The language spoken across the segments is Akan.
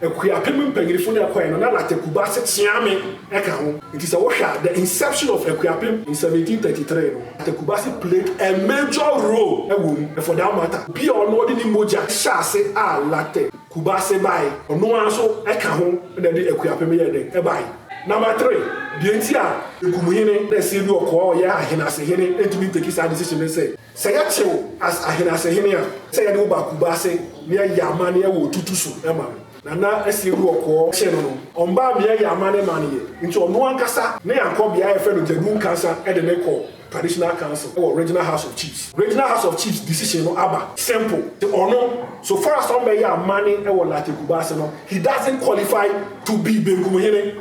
Akuapem mpanyinfo no a ɛkɔe no, na Larteh Kubase Tseame ka ho. Enti sɛ wohwɛ a, the inception of Akuapem in seventeen thirty three no, Larteh Kubase played a major role wɔ mu. For that matter, obi a ɔno ɔde ne mogya hyɛɛ ase a Larteh Kubase bae, ɔno ara nso ka ho na ɛde Akuapem yɛɛ dɛn? Ɛbae. Number three, deɛ nti a Egum hene, na ɛsɛ bi ɔkɔɔ ɔyɛ ahenasehene, ntumi nteki saa decision no ne sɛ, Sɛ yɛakye wo as ahene ase hene a, sɛ yɛde wo ba Kumase ne ayɛ amanneɛ wɔ Otutu so ma no. Nana Asiedu Ɔkɔɔ kye no no, ɔmbaa me ayɛ amanne ma no yɛ, nti ɔno ankasa ne yankɔ bea a yɛfrɛ no Dzebu Nkansa de no kɔ Traditional Council wɔ Regional House of Chiefs. Regional House of Chiefs decision no aba simple se ɔno, so far as ɔmbɛyɛ amanne wɔ Larteh Kumase no, he doesn't qualify to be Benkum hene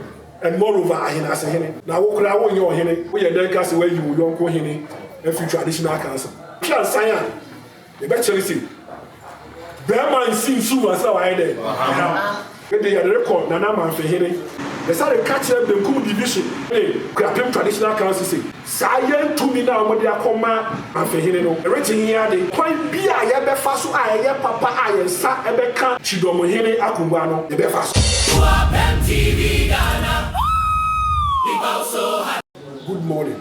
And moreover ahenase hene na wo koraa wonyɛ ɔhene woyɛ dɛn ka sɛ woayi wo yɔnko hene afiri traditional council. Twa nsan a yɛbɛkyere se barima nsi nsu ansa na wayɛ dɛn ayam. Ɛnde yɛde rekɔ Nana Amanfehene. Yɛsane ka kyerɛ benkum division ne Kuapem traditional council se Saa yɛn tumi no a wɔde akɔma Ahwehene no rete he ade? Kwan bi a yɛbɛfa so a ɛyɛ papa a yɛn nsa bɛka kyidɔm hene akongua no, yɛbɛfa so. Boapem TV Ghana People so happy. Good morning,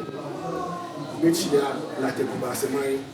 Mekyia Larteh Kumase man.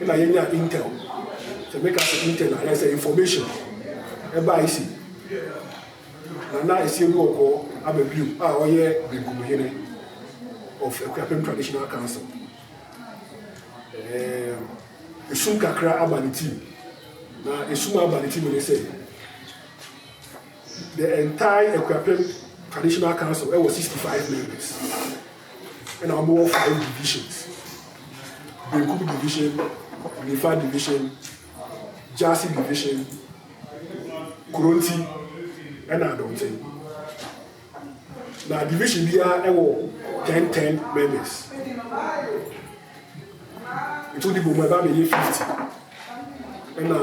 na yɛnya intel sɛ meka sɛ intel na ayɛ sɛ information ɛbaa isi na na ɛsi egu ɔkɔ aba bio a ɔyɛ benkum hene of akuapem traditional council ɛɛ esum kakra aba ne team na esum aba ne team ne sɛ the entire akuapem traditional council ɛwɔ 65 members Nna wɔn wɔ five divisions, benkum division, nifa division, Gyasi division, Koronti ɛna Adɔnten. Na division biara wɔ ten ten members. Nti wode bom a ɛba abɛyɛ fifty ɛna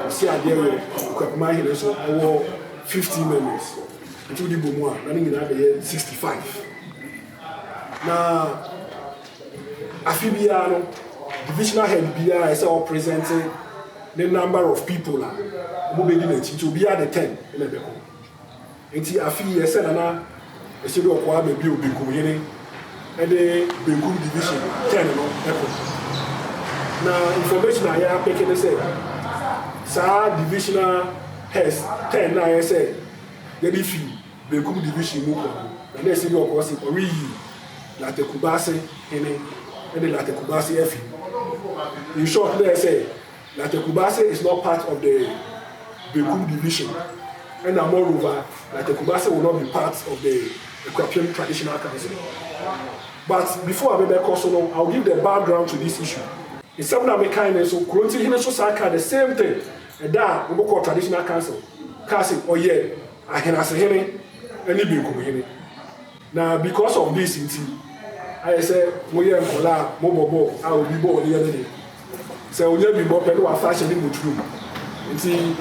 ɔsi adeɛ wɔ Kwakuma ahene nso ɛwɔ fifteen members nti wode bom a na ne nyinaa bɛyɛ sixty five na afi biara no divisional head biara ɛsɛ ɔpresente ne number of people a wɔbɛdi n'akyi nti obiara de ten ɛna ɛbɛkɔ. Enti afe yi ɛsɛ na na ɛhyɛ dɛ ɔkɔ ara baabi a Obenkumhene de Benkum Division kyɛn no kɔ. Na information a yɛapeke ne sɛ saa Divisional Heads kyɛn no a ɛyɛ sɛ yɛde fi Benkum Division mu kɔ no na na ɛsɛ dɛ ɔkɔ se ɔreyi Latte Kubase Hene ne Latte Kubase Afi. In short na ɛyɛ sɛ. Na Tekubase is not part of the Bekum division ɛna moreover na Tekubase will not be part of the Akuapem traditional council but before a mebɛkɔ so no I will give the background to this issue. Nsɛm no a mekae no nso Kuronti hene nso san kaa the same thing ɛda a wɔkɔɔ traditional council kaa se ɔyɛ Ahenasehene ɛne Benkumhene. Na because of this nti ayɛ sɛ mo yɛ nkɔla a mo bɔ bɔɔl a obi bɔɔl no yɛ ne de. Sɛ onya bi bɔ pɛ na wafa ahyɛ ne mɔturu mu. Nti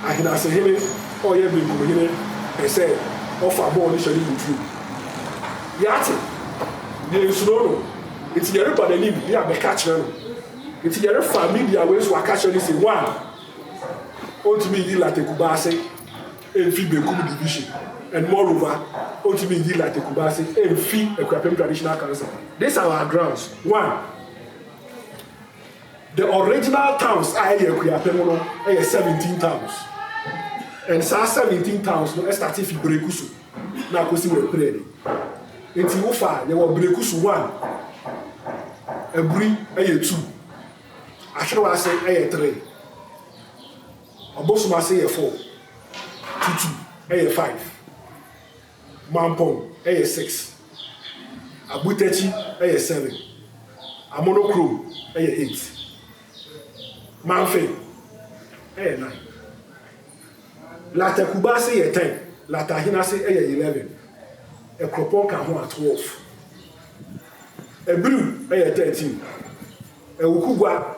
Ahenasehene a ɔyɛ Benkumhene pɛ sɛ ɔfa bɔɔl no hyɛ ne mɔturu mu. Yɛate. Deɛ nsuro no. Nti yɛreba n'anim ne yɛabɛka akyerɛ no. Nti yɛrefa media wei so aka akyerɛ no se one, ɔntumi nyi Latte Kubaa ase. mfi Benkum Division and moreover otumi nyi Larteh Kumasi mfi Akuapem Traditional Council. These are our grounds, one, the original towns a ɛyɛ Akuapem no yɛ seventeen towns and saa seventeen towns no ɛstate fi Brekusu na akosi wɔ Epirɛni. Nti wofa yɛwɔ Brekusu one, Aburi yɛ two, Ahwerewa ase yɛ three. Abosom ase yɛ four, Tutu yɛ five, Mampong yɛ six, Abutakyi yɛ seven, Amonokrom yɛ eight, Mamfe yɛ nine, Latakuba ase yɛ ten, Latahene ase yɛ eleven, Ekropon ka ho a twelve, Abriw yɛ thirteen, Awukugwa.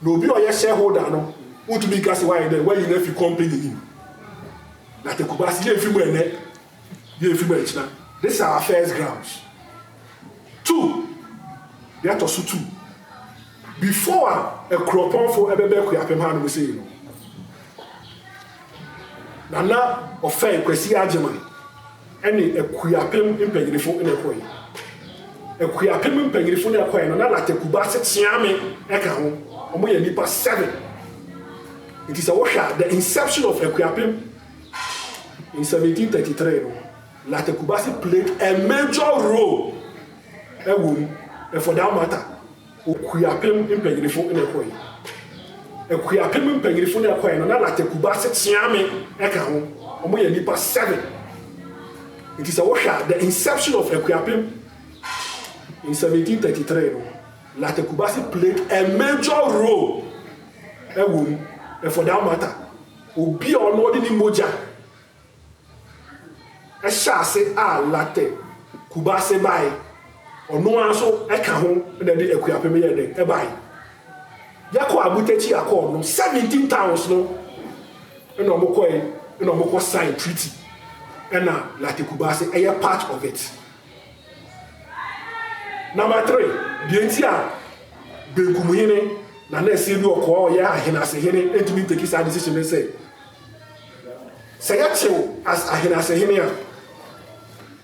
Na obi a ɔyɛ shareholder no wontumi nka sɛ wayɛ dɛn, wayi no afi company no mu. Na te Kumasi, yɛmfi mu ɛnnɛ, yɛmfi mu ankyina. This is our first grounds. Two, deɛ ɛtɔ so two, before a Akuropɔnfo ɛbɛba Akuapem ha nom sei no, Nana ɔfɛe Kwasi Agyeman, ɛne Akuapem mpanyinifo na ɛkɔe. Akuapem mpanyinifo na ɛkɔe no, na Larteh Kubase Kyeame ka ho. Wɔyɛ nnipa seven. Nti sɛ wohwɛ a, the inception of Akuapem in 1733 no, Larteh Kubase played a major role ɛwɔ mu, and for that matter, Okuapem mpanyinifo na ɛkɔe. Akuapem mpanyinifo na ɛkɔe no, na Larteh Kubase Kyeame ka ho. Wɔyɛ nnipa seven. Nti sɛ wohwɛ a, the inception of Akuapem in 1733 no, Larteh Kubase played a major role wɔ mu. And for that matter, obi a ɔno ɔde ne mogya Ɛhyɛ ase a latte Kubase bae, ɔno ara nso ɛka ho na ɛde Akuapem yɛɛ dɛn? Ɛbae. Yɛkɔ Abutakyi Accord no, seventeen towns no na wɔkɔe na wɔkɔ sign treaty ɛna latte Kubase ɛyɛ part of it. Number three, deɛ nti a Benkumhene Nana Asiedu Ɔkɔɔ ɔyɛ Ahenasehene ntumi nteki saa decision ne sɛ, Sɛ yɛakyere wo as ahenase'hene a,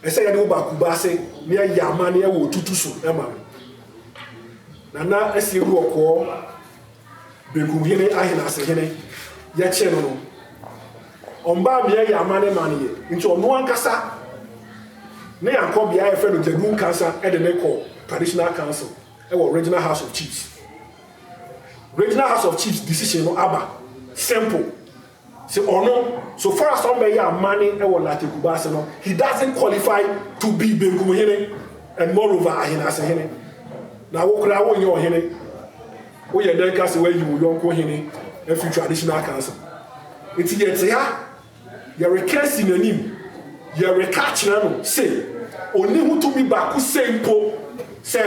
ɛsɛ yɛde wo ba Kumase na yɛayɛ amanneɛ wɔ otutu so ma no. Nana Asie Duɔkɔɔ, Bekumhene ahenase'hene, yɛkyere no no, ɔmbaa me yɛayɛ amanne ma no yɛ, nti ɔno ankasa ne yɛakɔ bea a yɛfrɛ no Gyadu Nkansa de no kɔ Traditional Council wɔ Regional House of Chiefs. Regional House of Chiefs decision no aba simple se ɔno so far as ɔmbɛyɛ amane wɔ Larteh Kubase no he doesn't qualify to be Benkum Hene and moreover Ahenase Hene. Na wo koraa wonyɛ ɔhene woyɛ dɛn ka se woayi wo yɔnko hene afiri traditional council. Nti yɛte ha Yɛreka asi n'anim, yɛreka akyerɛ no se onni ho tumi baako sei mpo sɛ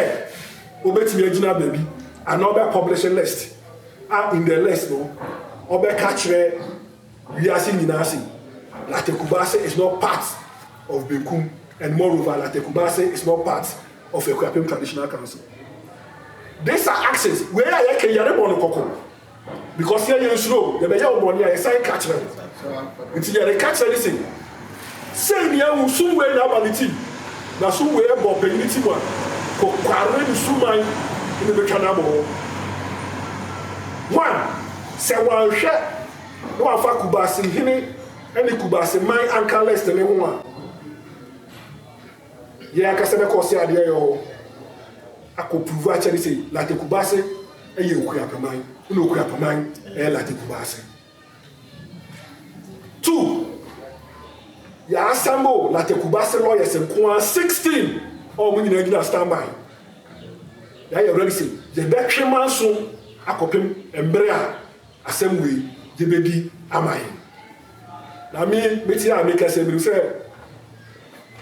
obetumi agyina baabi anaa ɔbɛ publish list a in the list no ɔbɛka akyerɛ wiase nyinaa se Latte Kubase is not part of Benkum and moreover Latte Kubase is not part of Akuapem Traditional Council. These are actions, wei a yɛka yi yɛrebɔ no kɔkɔ. Because yɛ yɛnsuro o, yɛbɛyɛ wo bɔne a yɛsan ka kyerɛ wo. Nti deɛ yɛreka kyerɛ ne se, sei ne ahu, sum wei na aba ne ti, na sum wei ɛbɔ ɔpanyin ne ti mu a, kokware nsuman na ɛbɛtwa no abɔ hɔ. One, sɛ wanhwɛ na wamfa Kubaasihene ne Kubaasiman anka list no ho a, Yɛn ankasa bɛkɔ ɔse adeɛ a ɛwɔ hɔ akɔ prove akyɛre se Large Kubase yɛ Okuapɛman na Okuapɛman yɛ Large Kubase. Two, yɛ assemble Large Kubase lawyers nko ara 16 a wɔn nyinaa gyina standby. Yɛayɛ ready se yɛbɛtwe manso akɔpem mmere a Asɛm wei gye bedi ama hɛn. Na me, metse a mekɛse no, minim sɛ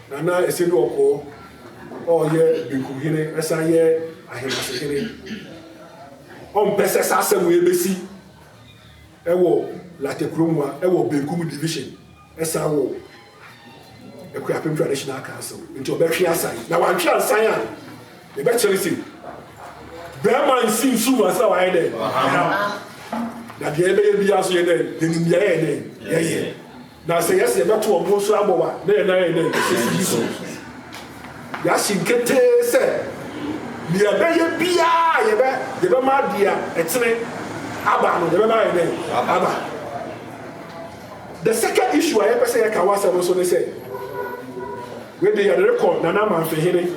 Nana Esedu Ɔkɔɔ a ɔyɛ Benkum Hene san yɛ Ahenase Hene, ɔmmpɛ sɛ saa asɛm wei besi wɔ Larteh Kuromwa wɔ Benkum Division. Ɛsan wɔ Akuapem Traditional Council nti ɔbɛtwe asan na wantwe ansan a yɛbɛkyerɛ sɛ bɛrima nsi nsu mu ansa wayɛ dɛ na deɛ yɛbɛyɛ biara so yɛ dɛ yɛnim deɛ yɛyɛ dɛ yɛyɛ na sɛ yɛsɛ yɛbɛto ɔmo nso abɔ wa na yɛn nan yɛ dɛ sisi bi so yɛahye nketee sɛ deɛ yɛbɛyɛ biara yɛbɛ yɛbɛma deɛ ɛtene aba no yɛbɛma yɛ dɛ aba. The second issue a yɛpɛ sɛ yɛka wɔ asɛm no so ne sɛ, wei de yɛde rekɔ Nana Amanfehene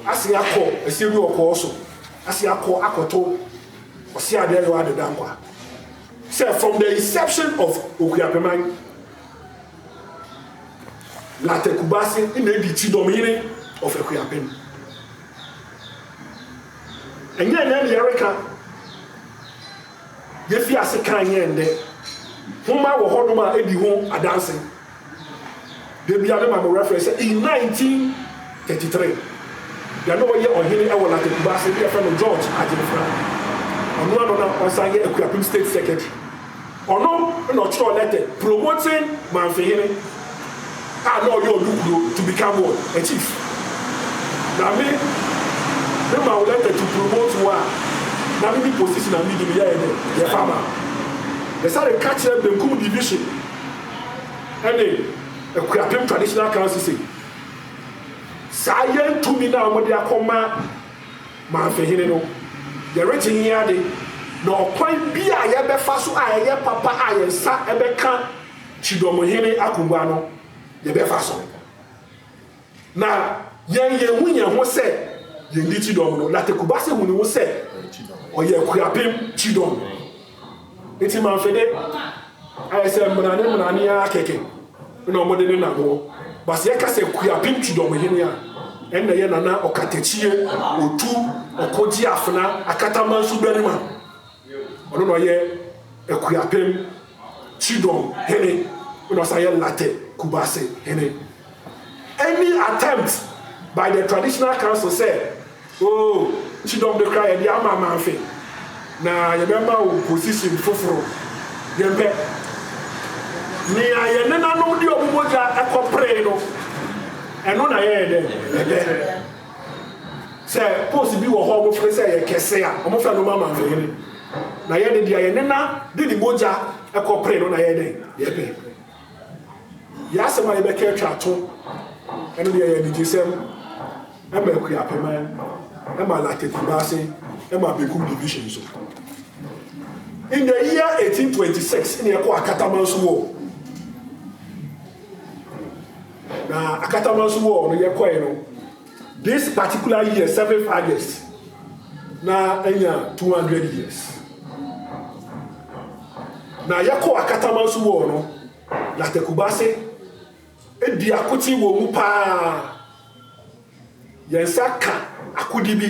ase akɔ asie bi wɔ kɔɔ so ase akɔ akɔto ɔse adeɛ yɔ ade dankwa sɛ from the inception of Okuapeman Late Kubase na edi ti dɔmhene of Akuapem ɛnyɛ ɛnɛ ne yɛreka Yefi ase kan yɛn nnɛ. Nhoma wɔ hɔnom a edi ho adanse. Da biara mema me werɛ frɛ sɛ in 1933, deɛ na ɔyɛ ɔhene wɔ Lata Kumasi ne yɛfrɛ no George Agyemfra, ɔno ara no na ɔsan yɛ Akuapem State Secretary, ɔno na ɔtwerɛɛ lɛtɛ promoting Mamfihene. a na ɔyɛ ɔno kuro to become what? A chief. Na me, me ma wo letter to promote wo a, na me ne position a me di no yɛ yɛ dɛ, yɛ pama. Me sare ka kyerɛ Benkum Division ɛne Akuapem Traditional Council se, saa yɛn tumi no a wɔde akɔ ma Manfehene no, yɛregye he ade, na ɔkwan bi a yɛbɛfa so a ɛyɛ papa a yɛn nsa bɛka, Kyidɔm hene akongua no yɛbɛfa so. Na yɛn yɛhu yɛn ho sɛ yɛndi Kyidɔm no. Na Tekubase hu ne ho sɛ ɔyɛ Akuapem Kyidɔm. Nti Manfede ayɛ sɛ mmerane mmerane ara kɛkɛ na wɔde ne nam hɔ. Base yɛka sɛ Akuapem Kyidɔm hene a, ɛnna ɛyɛ Nana Ɔkatakyie Otu Ɔkogyeafena Akatamanso Barima. Ɔno na ɔyɛ Akuapem Sidon hene na ɔsan yɛ latter Kubase hene. Any attempt by the traditional council sɛ oh Sidon de koraa yɛde ama Amanfe na yɛbɛma wo position foforo, yɛmpɛ. Nea yɛn nenanom de wɔn mogya kɔperee no, ɛno na yɛyɛ dɛ yɛpɛ. Sɛ post bi wɔ hɔ a wɔfrɛ sɛ ɛyɛ kɛse a, wɔfrɛ no ma Amanfe hene. Na yɛn de deɛ yɛn nena de ne mogya kɔpere no na yɛyɛ dɛn? Yɛpɛ. Yɛn asɛm a yɛbɛka atwa ato, ɛno deɛ yɛ anigyesɛm ma Akuapɛman, ma Latte Kumase, ma Bekum Division so. In the year 1826 ne yɛkɔ Akataman so wɔ na Akataman so wɔ no yɛkɔe no This particular year seventh August na anya two hundred years na yɛkɔ Akatamanso wɔ no na Tekubase edi akote wɔ mu paa yɛn nsa ka akodi bi.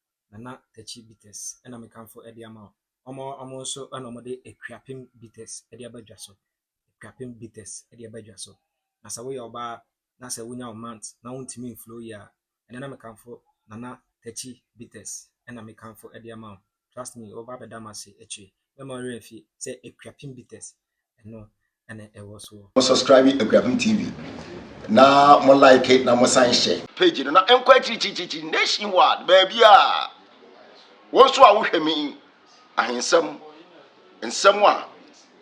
Nana Takyi bitters na mekamfo de ama wo. Wɔn a wɔn nso na wɔde Akuapem bitters de aba dwa so. Akuapem bitters de aba dwa so. Na sɛ woyɛ ɔbaa na sɛ wonya wo month na wontumi mflow yie a, ɛnɛ na mekamfo Nana Takyi bitters na mekamfo de ama wo. Trust me, wobɛba abɛda m'ase akyire. Mɛma wo werɛ mfi sɛ Akuapem bitters ɛno na ɛwɔ soɔ. Mo subscribe Akuapem TV na mo like na mo san hyɛ. Page no na ɛnkɔ akyirikyirikyirikyiri nation wide baabiaa. Wo nso a wo hwɛ me yi, ahensɛm, nsɛm a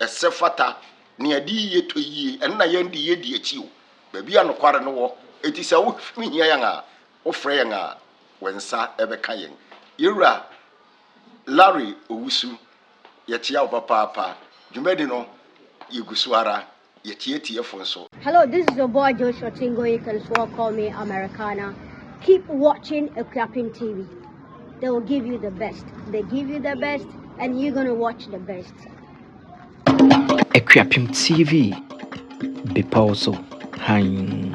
ɛsɛ fata, nea ɛde yie tɔ yie, ɛno na yɛn de yɛdi akyi o. Baabi a nokware no wɔ, enti sɛ wo hia yɛn a, wo frɛ yɛn a, wɛn nsa ɛbɛka yɛn. Yɛn wura Larry Owusu. Yɛkyea wo papaapa. Dwumadi no, yegu so ara. Yɛkyea atiefo nso. Hello this is your boy Joshua Chingo you can swore call me Americana keep watching Akuapem TV they will give you the best they give you the best and you gonna watch the best Akuapem TV bepɔw so hann.